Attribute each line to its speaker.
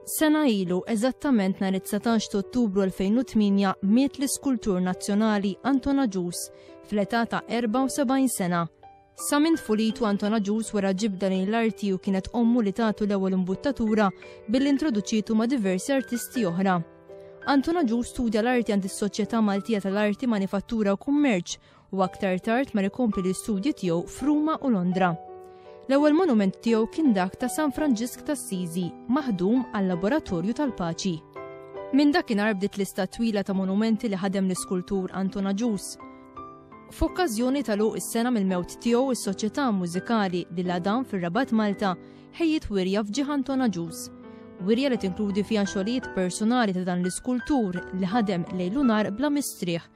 Speaker 1: Sena ilu, eżattament nhar it-19 ta' Ottubru 2008, miet l-iskultur nazzjonali Anton Agius fl-età ta' 74 sena. Sa minn tfulitu Anton Agius wera ġibda lejn l-arti u kienet ommu li tagħtu l-ewwel imbuttatura billi introduċietu ma' diversi artisti oħra. Anton Agius studja l-arti għand is-Soċjetà Maltija tal-Arti, Manifattura u Kummerċ u aktar tard mar ikompli l-istudji tiegħu f'Ruma u Londra. L-ewwel monument tiegħu kien dak ta' San Franġisk tas-Siżi, maħdum għal-Laboratorju tal-Paċi. Minn dakinhar bdiet lista twila ta' monumenti li ħadem l-iskultur Anton Aġus. F'okkażjoni ta' luq is-sena mill-mewt tiegħu is-Soċjetà Mużikali li l-Adam fir-Rabat Malta ħejjit wirja f'ġieħ Anton Aġus. Wirja li tinkludi fiha xogħlijiet personali ta' dan l-iskultur li ħadem lejlu nar bla mistrieħ